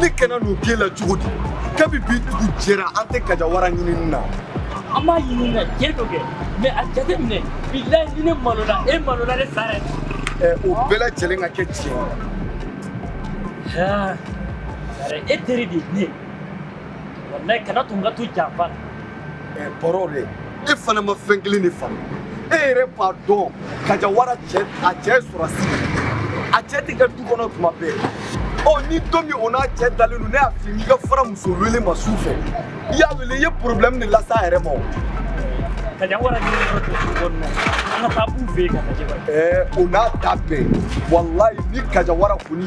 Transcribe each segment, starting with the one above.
ne kana n'o k'e la cogo di kabi bi dugu jɛra an tɛ kajawara ɲinini na an b'a ɲini na diɲɛ dɔ kɛ mɛ a jate minɛ bilayi ni ne malola e malola de sare eh, o bɛɛ lajɛlen ka kɛ tiɲɛ ye sare e teri de ye ne ye wallahi kana tun ka to janfa la bɔrɔ dɛ e fana ma fɛn kelen de faamu e yɛrɛ b'a dɔn kaja wara cɛ a cɛ ye sɔrɔdasi a cɛ tɛ kɛ du kɔnɔ tuma bɛɛ ɔ ni don min o n'a cɛ dalen don ne y'a f'i ye i ka fara muso wele ma su fɛ i y'a wele i ye problème de lase a yɛrɛ ma o kaja wara ni yɔrɔ tɛ du kɔnɔ an ka taa b'u fɛ yen ka lajɛ ɛɛ o n'a ta bɛɛ walayi ni kaja wara kɔni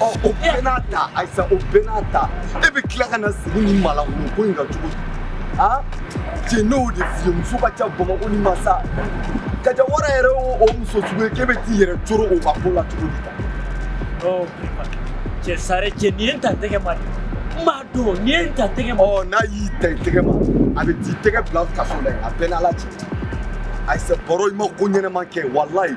ɔ o bɛɛ n'a ta ayisa o bɛɛ n'a ta e bɛ tila ka na sigi ni malankolo ko in kan cogo di a cɛ ne y'o de f'i ye muso ka ca bamakɔ ni masa kaja wara yɛrɛ o muso sugu ye k'e bɛ t'i yɛrɛ coro o ka ko la cogo di tan. ɔ cɛ sare cɛ nin ye n ta tɛgɛ ma dɛ n b'a dɔn nin ye n ta tɛgɛ ma. ɔ n'a y'i ta i tɛgɛ ma a bɛ t'i tɛgɛ bila kaso la yen a bɛ n n'ala cɛ ayisa bɔrɔ i ma ko ɲɛnama kɛ walayi.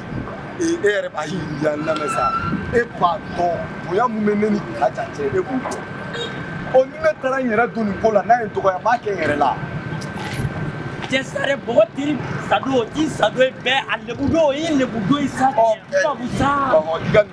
e yɛrɛ b'a ye yan lamɛn sa e b'a dɔn bonya mun bɛ ne ni kaja cɛ e b'o dɔn ɔ ni ne taara n yɛrɛ don nin ko la n'a ye n dɔgɔya n b'a kɛ n yɛrɛ la. cɛ sare bɔgɔ tiri sado o ti sado ye bɛɛ a lebudo o ye lebudo ye sa. ɔ ɛ ɔ i ka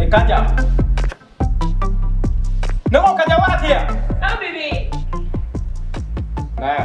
Eh, Kaja. Ne ko Kaja Wara ti yan? Ah, bébé. Naya.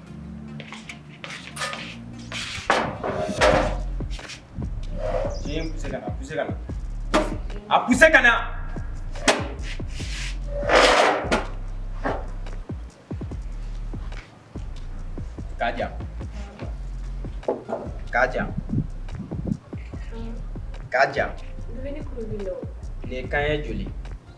A poussé ka na. Kaja. Kaja. Kaja. Ne kan ye joli?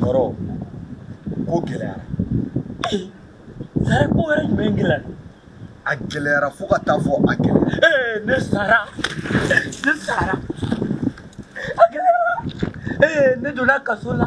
bɔrɔ ko gɛlɛyara sare ko wɛrɛ jumɛn gɛlɛyara a gɛlɛyara fo ka taa fɔ a gɛlɛyara ee ne sara ne sara a gɛlɛyara ee ne donna kaso la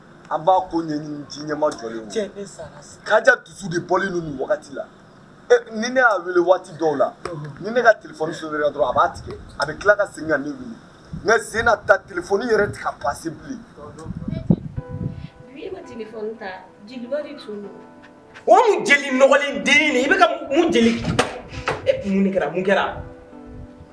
an b'a ko ɲɛɲini diɲɛ ma jɔ kaja dusu de bɔlen don nin wagati la ni ne y'a wele waati dɔw la ni ne ka telefɔni sonera dɔrɔn a b'a tigɛ a bɛ tila ka segin ka ne wele mɛ sen in na n ta telefɔni yɛrɛ ti ka pase bilen. bi e ma telefɔni ta jeliba de tun don. o mun jeli nɔgɔlen den de i bɛ ka mun jeli e mun de kɛra mun kɛra.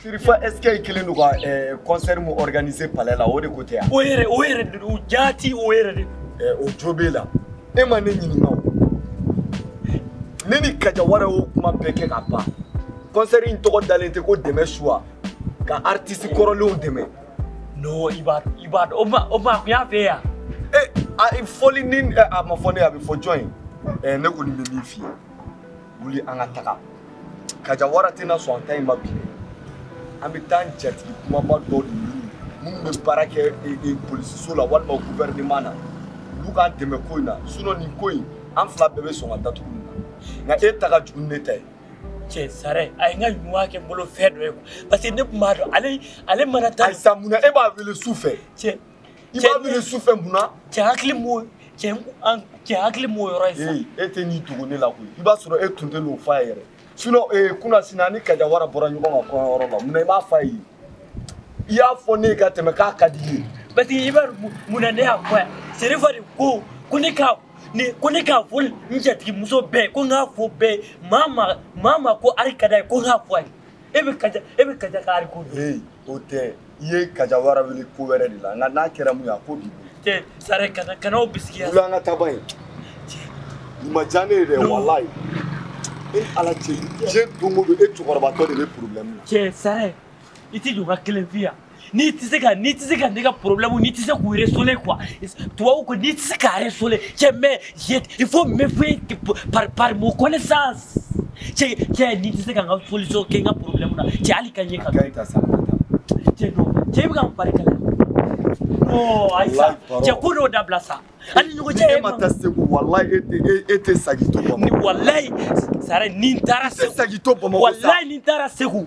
Sirifa est-ce que kelen don ka eh, concert min organiser palais la o de ko tɛ wa. O yɛrɛ o yɛrɛ de don jaati o yɛrɛ de. Eh, o jo b'e la e ma ne ɲininka o ne ni kajawara y'o kuma bɛɛ kɛ ka ban concert in tɔgɔ dalen tɛ ko dɛmɛ soit ka artiste kɔrɔlenw dɛmɛ. non i b'a i b'a dɔn o ma o ma kun y'a fɛ yan. ee a fɔli ni a ma fɔ ne ye a bɛ fɔ jɔn ye ne kɔni bɛ min f'i ye. wuli an ka taga kajawara tɛna sɔn an ta in ma bi dɛ an bɛ taa an jatigi kunbaba dɔ de ɲini minnu bɛ baara kɛ e, e, polisiso la walima guvɛrɛneman na olu k'an dɛmɛ ko in na sinɔn nin ko in an fila bɛɛ bɛ sɔn ka datugu nin na nka e ta ka jugu ni ne ta ye cɛ sare a ye n ka ɲuman kɛ n bolo fɛn dɔ ye parce que ne tun b'a dɔn ale ale mana taa ayisa mun na e b'a wele su fɛ cɛ i b'a wele su fɛ mun na cɛ hakili m'o cɛ an cɛ hakili m'o yɔrɔ ye sa ee e tɛ n'i dogo ne la koyi i b'a sɔrɔ e tun tɛ n'o f'a ye yɛrɛ sinɔn ee kunasini a ni kajawara bɔra ɲɔgɔn kan kɔɲɔyɔrɔ la mun na i b'a f'a ye i y'a fɔ ne ye ka tɛmɛ k'a ka di i ye parce que i b'a dɔn mun na ne y'a fɔ yan serifa de ko ko ne ka ni ko ne k'a fɔ n jatigimuso bɛɛ ko n k'a fɔ bɛɛ maa ma maa ma ko wari ka d'a ye ko n k'a fɔ a ye e bɛ kaja e bɛ kaja ka wari ko ee o tɛ i ye kajawara wele ko wɛrɛ de la nka n'a kɛra mun ye a ko b'i bolo tɛ sare kana kan'o bisigiya wuli an ka taa ba ye nin ma diya ne ye dɛ walayi e ni ala cɛ diɲɛ don o don e cɛkɔrɔbatɔ de bɛ porobilɛmu na cɛ sare i t'i jɔ n ka kelen f'i ye n'i tɛ se ka n'i tɛ se ka ne ka porobilɛmu n'i tɛ se k'u résoudre quoi tubabu ko n'i tɛ se k'a résoudre cɛ mais il faut me faire part, par mon connaissance. Cɛ cɛ n'i tɛ se ka n ka solution kɛ n ka problème na cɛ hali ka ɲɛ ka cɛ non cɛ i bɛ ka n fari kalaya non ayi sa cɛ ko dɔw dabila sa an ni ɲɔgɔn cɛ e mana taa segu walayi e tɛ e tɛ sagi to bamakɔ ni walayi sare ni n taara segu sagi to bamakɔ walayi ni n taara segu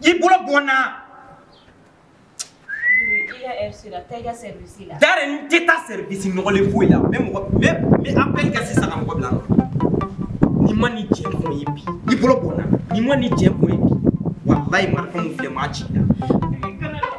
i bolo bɔ n na sare n tɛ taa sɛrivisi nɔgɔlen foyi la n bɛ mɔgɔ n bɛ apɛli kɛ sisan ka mɔgɔ bila nɔ n'i ma ni jɛ kun ye bi i bolo bɔ n na n'i ma ni jɛ kun ye bi walayi marifa min filɛ maa ci la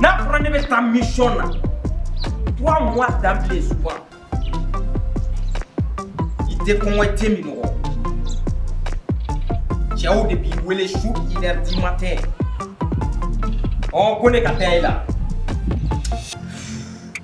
n'a fɔra ne bɛ taa mission na trois mois d'emblée souvent i tɛ kɔngɔ i tɛ minnɔgɔ cɛw de b'i wele su une heure du matin ɔ ko ne ka taa i la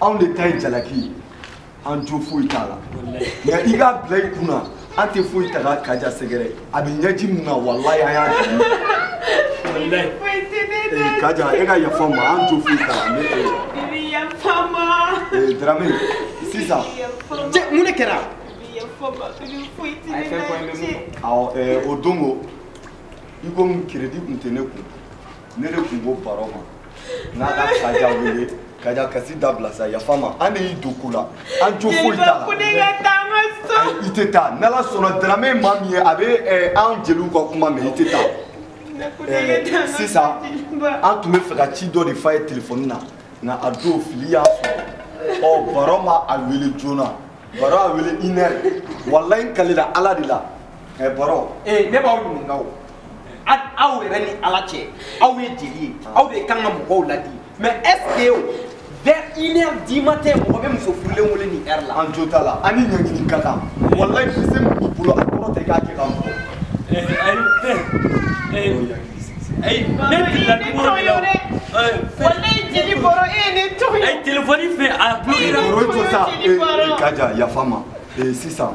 anw de ta ye jalaki ye an jo foyi t'a la nka i k'a bila i kun na an tɛ foyi ta ka kaja sɛgɛrɛ a bɛ ɲɛji min na walayi an y'a dɛmɛ kaja e ka yafa an ma an jo foyi t'a la ne tɛ darame sisan mun de kɛra awɔ o don ko ikomi keredi tun tɛ ne kun ne de tun ko baro ma n'a ka kaja wele kaja kasi dabila sa yafa an ma an de y'i don ko la an jo foyi t'a la i tɛ taa n'ala sɔnna darame maa min ye a bɛ eh, an jeliw ka kuma mɛn i tɛ taa eh, sisan an tun b'a fɛ ka ci dɔ de f'a ye telefɔni na nka a don fili y'a sɔrɔ ɔ baro ma a wele joona baro a wele une heure walayi n kalila ala de la ɛ baro ee ne b'aw ɲininka o aw yɛrɛ ni ala cɛ aw ye jeli ye aw de kan ka mɔgɔw ladi mɛ ɛseke o vers une heure du matin mɔgɔ bɛ muso furulen wele nin heure la. an jo t'a la an ni ɲangini ka kan walayi bi se min b'i bolo a kɔrɔ tɛ k'a kɛ ka mɔgɔ. ayi ne filila nimɔrɔ de la o walayi jeli baro e ye ne to yen. ayi telefɔni fɛ a bulokera. o ye to sa ee kaja yafa n ma ee sisan.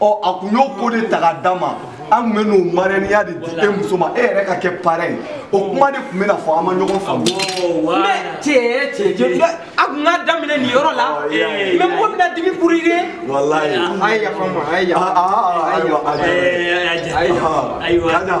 ɔ a kun y'o ko de ta ka d'a ma an tun bɛ n'o marɛniya de di e muso ma e yɛrɛ ka kɛ parɛn o kuma de tun bɛ na fɔ an ma ɲɔgɔn faamu. mɛ cɛ cɛ cɛ a tun ka daminɛ nin yɔrɔ la mɛ mɔgɔ bɛna dimi kuru ye. walayi a ye yafa n ma a ye yafa n ma. ayiwa ayiwa ayiwa.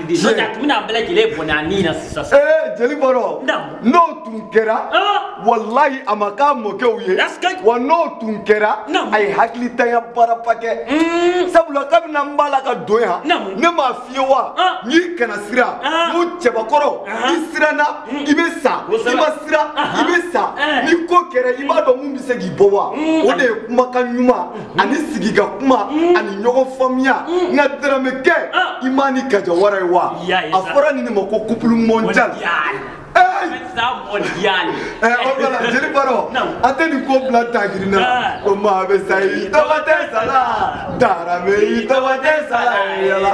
N'o tɛ a tun bɛna a bɛɛ lajɛlen bɔnɛ a ni na sisan sisan. Ee jeli baro Naamu. n'o tun kɛra Aa! walayi a ma k'a mɔkɛw ye wa n'o tun kɛra Naamu. a ye hakilitanya baaraba kɛ Mm. sabula kabini an b'a la ka don yan Naamu. ne m'a f'i ye wa Ah. n'i kana siran Ah. ko cɛbakɔrɔ Ah. i siranna i bɛ sa i Kosɛbɛ. ma siran i Aha. bɛ sa Eh. ni ko kɛra i b'a dɔn mun bɛ se k'i bɔ wa Mm. o de ye kumakan ɲuman ani sigi ka kuma mm. ani ɲɔgɔn faamuya mm. nka darame kɛ ah. i m'a ni kaja wara ye wa a fɔra nin de ma ko couple mondial jeli baro an tɛ nin ko bila tagiri na ah. ko maa bɛ sa i tɔgɔ tɛ sala darame i tɔgɔ tɛ sala yala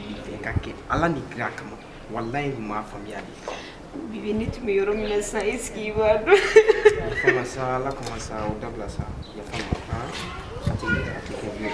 Fɛn k'a kɛ ala ni kira kama walayi n m'a faamuya de bibi ne tun bɛ yɔrɔ min na sisan est ce que i b'a dɔn yafa n ma sa ala kama sa o dabila sa yafa n ma a tɛ kɛ bilen